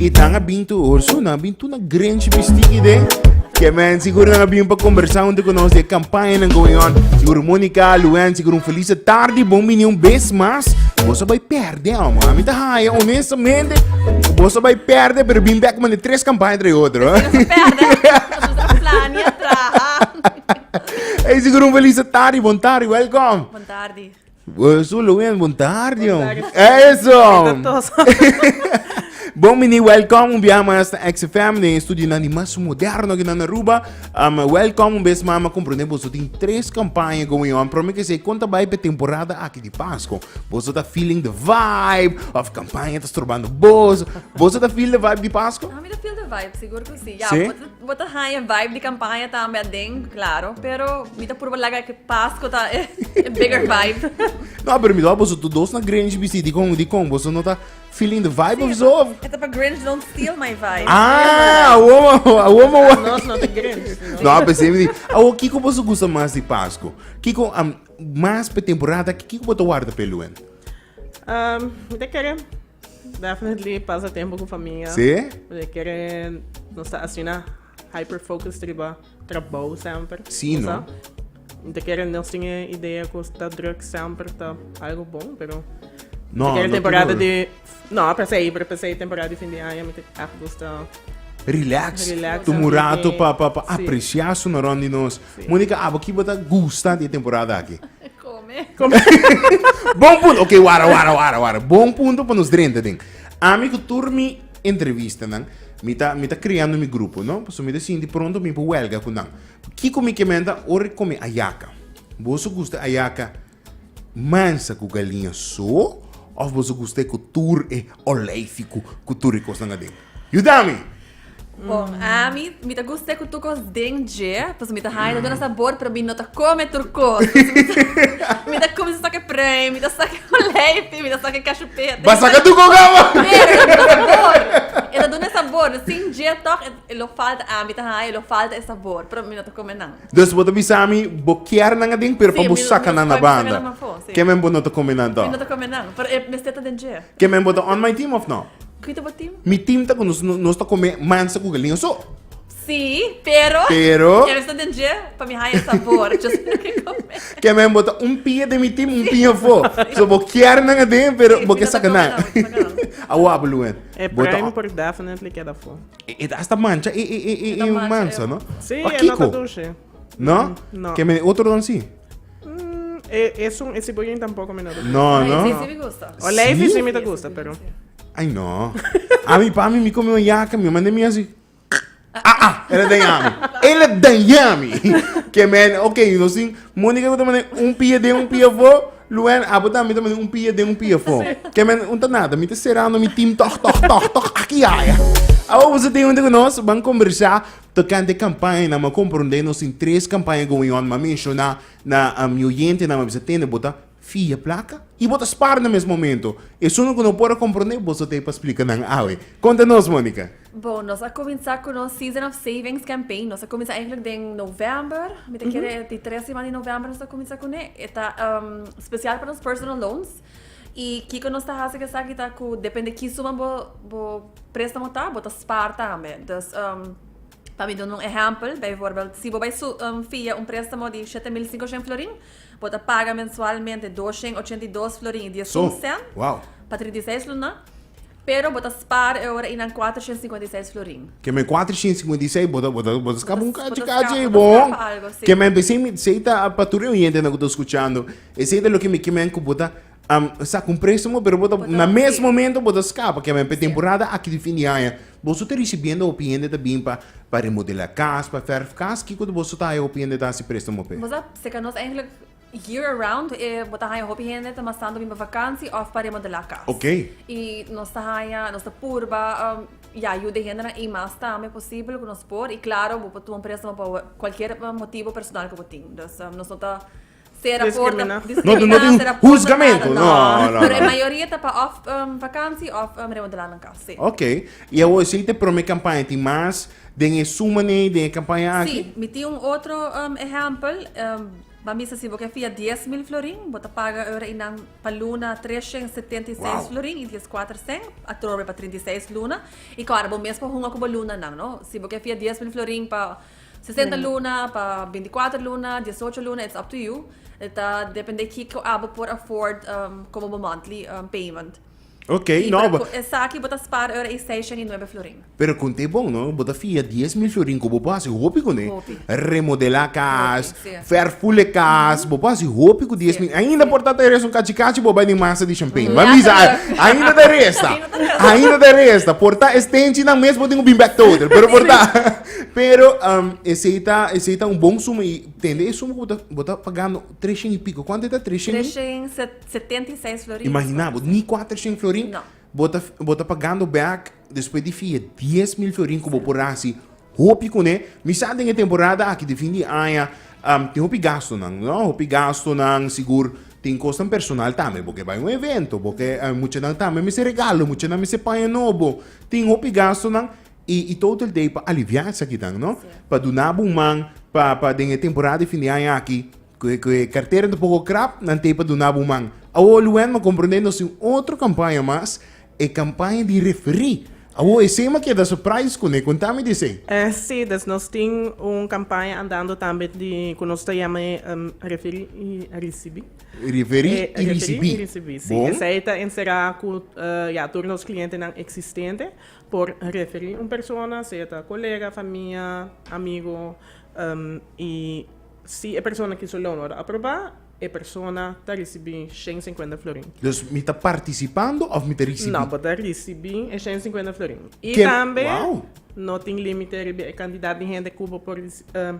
I nan a bin tur hoor, so nan a bin tur na Grinch bisti ki den. Ke men, sigur nan a bin pa kombersá huntu ku nos di e kampañanan going on. Sigur Monica, Luwen, sigur un felis atardi bon bini un bes mas. Boso a bai pèrdè, omo. A mi ta haña onestamente ku boso a bai pèrdè, pero bin bèk manda tres kampaña tra e otro. Nos a pèrdè, nos a tabata plania, traha. Ey, sigur un felis atardi, bon tardi, welkom. Bon tardi. Sulo wen, bon tarde. Eso! Bon mini, welcome un bia mas na XFM, den studio nan di mas moderno ki nan Aruba. Um, welcome un bes mama, comprende boso tin tres campaña going on. Prome que se conta bai pe temporada aki di Pasco. Boso ta feeling the vibe, of campaña ta strobando boso. Boso ta feel the vibe di Pasco? Ah, mi ta feel the vibe, sigur cu si. Ya, si? Bo ta haña vibe di kampaña tambe aden, klaro, pero mi ta purba laga ke Pasko ta e bigger vibe. No, pero mi ta wak boso tur dos na Grinch bisí, dikon, dikon? Boso no ta feeling the vibe of zo? E ta pa Grinch don't steal my vibe. Ah, awor mo, awor mo wak. Nos no ta Grinch, no? No, a pesé mi di, awor kiko boso gusta mas di Pasko? Kiko, am, mas pe temporada, kiko bo ta warda p'e luen? Um, mi ta kere Definitely pasa tempo ku famia. Sí? Porque kere nos ta asina hyper focus riba trabou semper. Sí, no? Te kere nos tin e idea ku ta druk semper ta algo bon, pero No, te kere no temporada tur. di no, per se, pero per se temporada di fin di aña mi te echt gusta Relax. Relax, Tumu rato pa, pa, pa sí. apreciá su na rond di nos. Monica, abo ki bo ta gusta di e temporada aki? Come. bon punto, ok, wara, wara, wara, wara. Bon punto pa nos drenta den. Ami ku tur mi entrevistanan, mi ta, mi ta creando mi grupo, no? Paso mi ta sinti pronto mi pa huelga ku nan. Kiko mi ke menta? Ora come ayaca. Bo su gusta ayaca? Mansa ku galiña so òf bo su gusta e ku tur e oleifiku ku tur e kosnan aden? Yuda mi! Bon, ami, mi ta gusta e ku tur kos den dje, pasobra mi ta haña ta duna sabor, pero mi no ta kome tur kos. Pasobra mi ta kumsa saka e prei, mi ta saka e oleifi, mi ta saka e kashupete. Ba saka tur kos abo! Pero e ta duna sabor. E ta duna e sabor. Sin dje tòg e lo falta. Ami ta haña e lo falta e sabor, pero mi no ta kome nan. Dus bo ta bisa mi bo kier nan adin pero pa bo saka nan na banda. Ke men bo no ta come nan toh? Ke men bo ta on my team of no? Mi team ta ku nos nos ta come mansa ku galinha so. Pero ke men bo ta un pia den mi team un pia afo. So bo kier nan adin pero bo ke saka nan. Awor Abelouen. Bo ta on. E ta hasta mancha e, e, e, e, e un mansa, no? Sí, Pa e no ta kiko? dushi. No? no. Ke mene otro don si? Mm, e, e son, e siboyin tampoco mi no ta dushi. No, Ay, no? sí, sí me gusta. O leifi Sí? sí mi ta gusta, pero... Ay, no. A mi pa mi, mi come un yaka, mi manda mi así. Ah, ah, ele daña mi. Ele daña mi. Que men, ok, no sin, Mónica que te manda un pie de un pie vo, Luwen, abo ta mi ta mete un pie den un pie fo. Ke men un ta nada, mi ta serando mi team toch toch toch toch aki yaya. Abo boso tin hunde ku nos ban kombersá tokante kampañanan, mi a komprondé nos tin tres kampaña going on, mi a menshoná na mi oyentenan, mi a bisa tende bo ta fia plaka i bo ta spar na mes momento. Esun lo ku no por a komprondé, boso ta ei pa splika nan awe. Konta nos, Monica. Bon, nos a cuminsa cu nos Season of Savings campaign. Nos a cuminsa eigenlijk den november. Mi ta kere di tres siman di november nos ta cuminsa cu ne. E ta um, special pa nos personal loans. Y kico nos ta haci cu esaki ta cu depende ki suma bo, bo préstamo ta, bo ta spaar tambe. Dus, um, pa mi dun un ehempel, bijvoorbeeld, si bo bai su, um, via un préstamo di 7.500 florin, bo ta paga mensualmente 282 florin y diesun Zo, cent wauw. pa 36 luna. Pero bo ta spaar e ora y nan cuater shen cincuenta y seis florin. Ke men cuater shen cincuenta y seis, bo ta, bo ta, bo ta scapa un cachi, cachi ey, bo. Bo ta scapa, bo ta scapa algo, sí. Ke men besey mi, sey ta pa tur e oyentenan cu ta scuchando, esey ta loke mi ke men cu bo ta am saca un prestamo, pero bo ta, na mes momento bo ta scapa, ke men p'e temporada aki di fin di aña, boso ta ricibiendo hopi hende ta bin pa, pa remodela cas, pa verf cas, kico ta boso ta haya hopi hende ta haci prestamo p'e? Bo sa, seca nos eigenlijk. Year around e bo ta haña hopi hende ta mas tantu bin pa vakansi of pa remodelá kas. Ok. I nos ta haña, nos ta purba ya yuda e hendenan i mas tambe posibel ku nos por. I klaro bo por tuma un préstamo pa kualkier motibu personal ku bo tin. Dus nos no ta sera porta, diskriminá, sera porta nada. No tin husgamentu, no, no, no. Pero e mayoria ta pa of vakansi of remodelá nan kas, si. Ok. I awor esei ta e promé kampaña. Tin mas den e suma nei den e kampaña aki? Si. Mi tin un otro ehèmpel. Bo a misa si bo ke fia dies mil florin, bo ta paga ora inan pa luna tres shen setenta i seis florin i dies kuater sent, atrobe pa trinta i seis luna. I kòrda, bo mes por hunga ku bo lunanan, no? Si bo ke fia dies mil florin pa sesenta luna, pa binti kuater luna, dies ocho luna, it's up to you. E ta depende kiko abo por afford komo bo monthly payment. Ok, Si, no, pero bo, cu esaki bo ta spara ora i seiscion i nuebe florin? pero con t'e bon, no, bo ta fia dies mil florin cu bo por haci hopi cu n'e, Hopi. remodela cas, Hopi, si. verful e cas, bo por haci hopi cu dies Si, mil, ainda si. por ta ta resta un cachi cachi bo bai den masa di champagne, ma mi sa, Lekker hoor. a- ainda ta resta, Ainda ta resta. ainda ta resta, por ta e stenchinan mes bo tin cu bin bek total, pero por ta, pero am, esey ta, esey ta un bon suma i tende e suma cu bo ta, bo ta pagando treshon i pico, cuanto e ta treshon i? Treshen set. Setenta i seis florin. Imaginá bo, ni kuater shen florin bo ta bo ta pagando bèk despues di fia dies mil florin ku bo por hasi hopi kuné. Mi sa den e temporada aki di fin di aña tin hopi gastunan, no? Hopi gastunan, sigur tin kosnan personal tambe, bo ke bai un evento, bo ke muchanan tambe a mester regalo, muchanan a mester paña nobo, tin hopi gastunan i i Total Day pa aliviá esaki tan, no? Pa duna bo un man pa pa den e temporada di fin di aña aki Cu e cartera ta poco crap, nan t'ey pa duna bo man. Awo Luen ma comprende nos tin otro campaña mas, e campaña di referí. Awo esey ma keda surprise cune, conta mi di esey. Eh si, dus nos tin un campaña andando tambe di cu nos ta yama e referí y ricibí. Referí y ricibí, bon. Esey ta encera cu ya tur nos clientenan existente por referí un persona, sea ta colega, famia, amigo y. Si e persona ki su loan wòrdu aprobá, e persona ta risibí shen i sinkuenta florin. Dus mi ta partisipando òf mi ta risibí? No, bo ta risibí e shen i sinkuenta florin. I tambe no tin límite riba e kantidat di hende ku bo por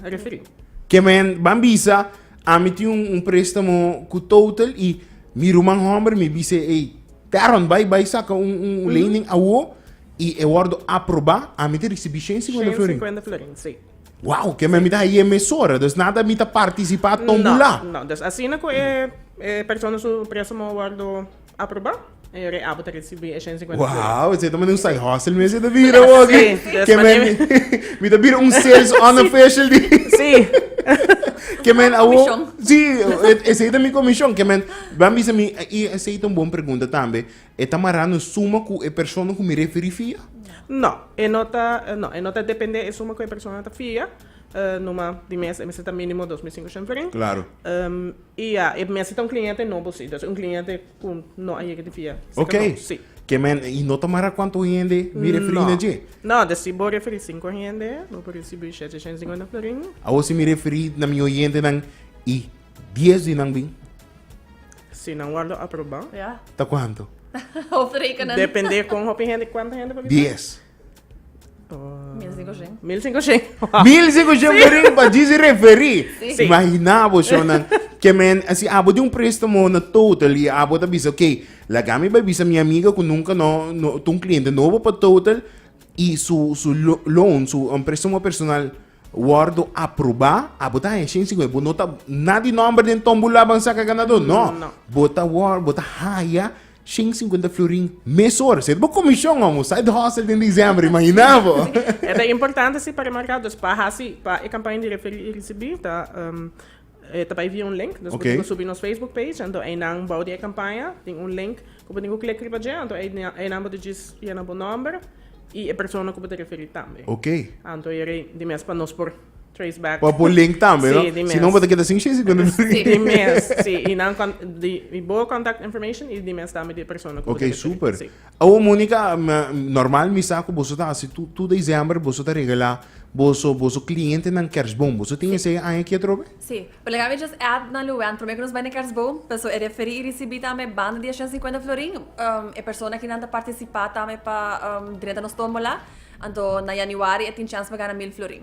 referí. Ke men ban bisa, Ami tin un préstamo ku Total i mi ruman hòmber mi bis'é, Ey, Darron, bai bai saka un lening awó i e wòrdu aprobá, ami ta risibí shen i sinkuenta florin. Shen i sinkuenta florin, sí. Wow, ke men mi ta haye mesora, dus nada mi ta partisipa tombula. No, no, dus asina ku e e persona su presomo wordo aproba, e reabo ta risibi e shen sinkuenta euro. Wow, esei ta mane un side hustle mi esei ta bira bo aki. Si, dus Ke men mane- mi ta bira un sales unofficial di Si. Ke men awo Komishon. Si, e- esei ta mi komishon, ke men, bam bisa mi i esei ta un bon pregunta tambe. E ta marando suma ku e persona ku mi referí fia? No, e no ta, no, e no ta dependé e suma ku e persona ta fia, numa di mes e mester ta mínimo dos mil sinku shunt feren. Klaro. I ya, e mester ta un kliente nobo, sí. Entonces un kliente ku no a yega di fia seker nobo, sí. Oké, ke men, i no ta mará kuantu hende mi referí na dje? No, no, si bo referí sinku hende, bo por risibí shete shen singenta florin. Awor si mi referí na mi oyentenan i. Dies di nan bin. Si nan wardo aproba. Ja. Ta kuanto? Of rekenen. Depende kon hopi hende, kuanto hende por bisa? Dies. Mil sinku shen. Mil sinku shen. Mil sinku shen por rin pa disi referi. Si. Imagina bo so nan. Ke men, si abo di un prestamo na Total i abo ta bisa, ok, laga mi bai bisa mi amiga ku nunka no, no, ta un kliente nobo pa Total i su, su loan, su, prestamo personal, Wordo aproba abo ta haña shen singui bo no ta na di nomber den tombula ban saca ganador no bo ta wor bo ta haya shen y cincuenta florin mes ora si bo comision on un side hustle den diciember imagina bo e ta importante si pa remarca dus pa haci pa e campaña di referir y ricibi ta. E ta bai via un link, dus bo tin ku subi nos Facebook page, anto einan bou di e kampaña tin un link ku bo tin ku klek riba dje, anto einan bo ta djis yena bo nòmber i e persona ku bo ta referí tambe. Anto yere ei di mes pa nos por trace back. Pa bo link tambe, no? Si no bo ta keda sin shei si kuando no link. Di mes, si. I nan di bo contact information i di mes tambe di e persona ku bo ta referí. Ok, super. Awo Monica, normal mi sa ku boso ta hasi tur tur diciember boso ta regalá boso boso klientenan kersboom. Boso tin esei e aña aki atrobe? Sí. Por lagá mi just add na Luwen promé ku nos bai na kersboom, paso e referí i risibí tambe banda di a shen sinkuenta florin. E persona aki nan ta partisipá tambe pa drenta nos tómbola, anto na yanüari e tin chèns pa gana mil florin.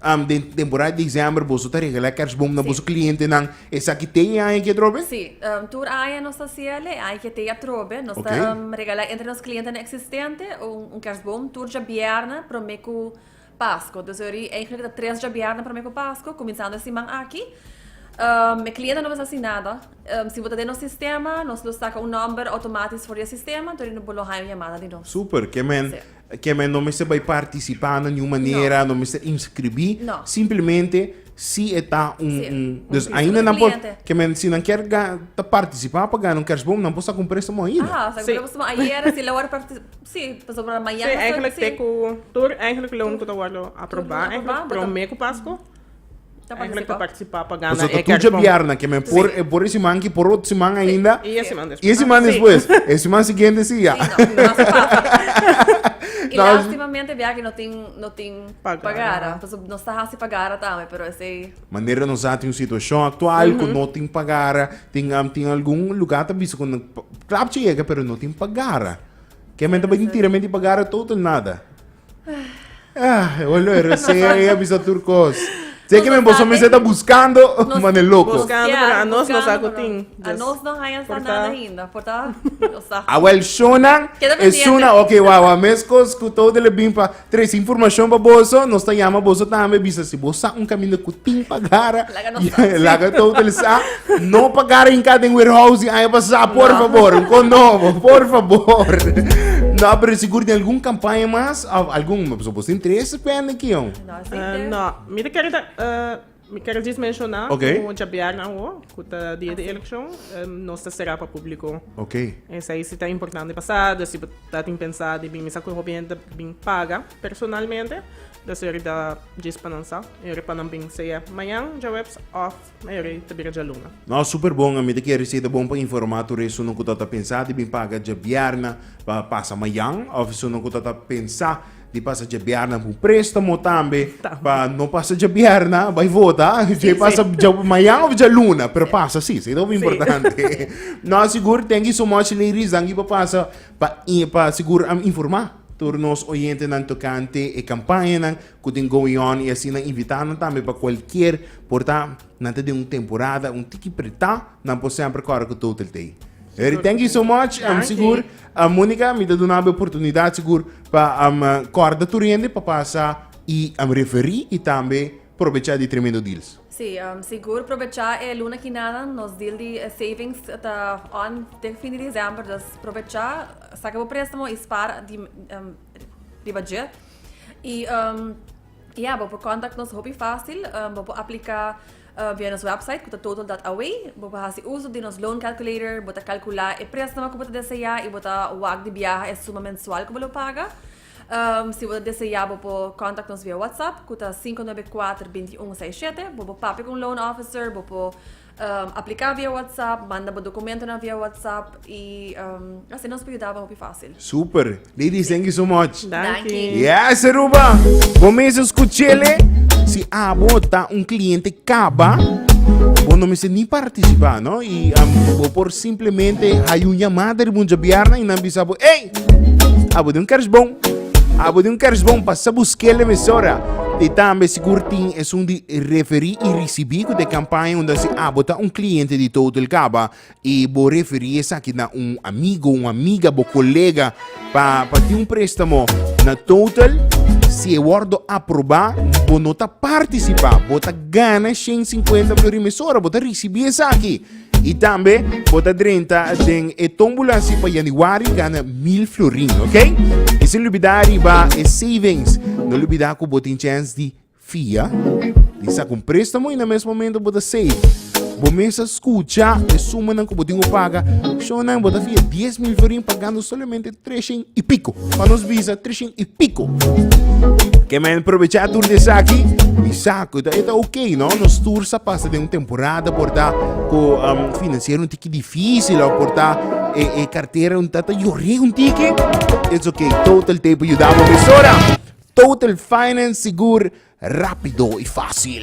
Am den temporada diciember boso ta regala kerstboom na boso clientenan esaki tei e aña aki atrobe? Si, tur aña nos ta haci el e aña ki tei atrobe, nos ta regala entre nos clientenan existente un kerstboom tur djabièrnè prome ku Pasko, dus yori eigenlik ta tres djabièrnè prome ku Pasko kuminsando e siman aki, e cliente no mester haci nada, si bo ta den nos sistema nos lo saca un number automatisch for di e sistema tur yori bo lo haña un yamada di nos. Super, kemen Ke men no mester bai partisipa na niun manera, no mester inskribí, simplemente si e ta un un dus ainda nan por ke men si nan kier ga ta partisipa pa gana un kèrsboom nan por sa kumpr'é suma ainda. Aha, sa kumpr'é suma ayera si lo wòrdu partisipa, si, pasobra mañana. Si, èinklik te ku tur èinklik loan ku ta wòrdu aprobá èinklik promé ku Pasko. Eigenlijk te participa pa gana Pasobra tu dje bièrna ke men por e por e siman ki por otro siman ainda. I e siman despues. I e siman despues. E siman siguiente si ya. Si no, no basta pasa. I lastimamente e biaha no tin no tin pagara. Pasobra nos ta hasi pagara tambe pero esei. Manera nos a tin un situashon aktual ku no tin pagara. Tin tin algun lugá ta bisa ku klapchi yega pero no tin pagara. Ke men ta bini tira men di pagara total nada. Ah, eu lo era serie, eu bisa tur cos. Sei que me boso me está buscando, mane loco. Buscando, pero a nos nos hago ting. A nos no hayan sa nada ainda, porta. A wel shonan, e shona, ok, wa wa mes cos cu todo de le bin pa tres information pa boso, nos ta llama boso tambe bisa si bosa un camino cu ting pa gara. Laga ta utilisa no pa garinka den warehouse di aña pasa, por no. favor. Un con nobo, por favor. no, pero sigur di algun kampanya mas, of algun, so bos interesse pende ki yon? No, si uh, no. Mi de kere uh, mi kere dis menciona okay. como jabiarna wo, ku ta dia de eleksyon, um, nos ta será pa publiko. Okay. Esa aí si ta importante pasada, si ta tin pensar di bin misa ku hopi gente bin paga. Personalmente, ta ser di djis pa nan sa, mayor'e pa nan bin sea mañan, djaweps, of mayor'e ta bira djaluna. No, super bon, ami ta kere si ta bon pa informa tur esunnan ku ta ta pensa di bin paga djabièrnè pa pasa mañan, of esunnan ku ta ta pensa di pasa djabièrnè ku un prestamo tambe pa no pasa djabièrnè, bai vota, dje pasa mañan of djaluna, pero pasa si, sa e ta uf importante. No, sigur, thank you so much ladies, danki pa pasa Pa pa sigur a informa tur nos oyentenan tokante e kampañanan ku tin going on i asina invitá nan tambe pa kualkier por ta nan ta den un temporada un tiki pretá nan por semper kòrda ku Total Tay. Very thank you so much sigur Monica mi ta dunaba e oportunidat sigur pa kòrda tur hende pa pasa i referí i tambe Probechá di tremendo deals. Sí, sigur probechá e luna ki nada, nos deal di savings ta on dek fin di December, dus probechá, saca bo préstamo y spara di riba dje. Y ya, bo por contact nos hopi fácil, bo por aplica via nos website cu ta total dat away, bo por haci uso di nos loan calculator, bo ta calcula e préstamo cu bo ta deseá y bo ta wak di biaha e suma mensual cu bo lo paga. Si bo ta deseá bo por kòntak nos via WhatsApp ku ta sinku nuebe kuater binti un seis shete. Bo por papia ku un loan officer, bo por apliká via WhatsApp, manda bo dokumentonan via WhatsApp i asina nos por yuda bo hopi fásil. Super! Ladies thank you so much. Danki. Yes Aruba! Bo mes a skuch'e le? Si abo ta un kliente. Caba, bo no mester ni participa no y bo por simplemente hay un llamada riba un djabiarna y nan bisa bo ey abo den un kerstboom abo den un kerstboom pasa buskel den emisora y tambe sigur tin esun di referi y ricibi cu den campaña unda si abo ta un cliente di Total Caba. E bo referí esaki na un amigo, un amiga, bo kolega pa pa tin un préstamo na Total. Si e wòrdu aprobá, bo no ta partisipá, bo ta gana shen sinkuenta florì mesora, bo ta risibí esaki. I tambe bo ta drenta den e tómbula si pa yanüari gana mil florin, oke? I sin lubidá riba e savings, no lubidá ku bo tin chèns di Fia, di sa ku un préstamo i na mes momentu bo ta save. Bo mes a skucha e sumanan ku bo tin ku paga. Shon nan, bo ta fia dies mil florin pagando solamente treshen i piko. Pa nos bisa, treshen i piko. Ke men probechá tur di esaki i sa ku e ta okey, no? Nos tur sa pasa den un temporada por ta ku finansiero un tiki difísil òf por ta e kartera un ta ta yore un tiki. It's okey, Total ta por yuda bo mesora. Total Finance Sigur, rápido i fásil.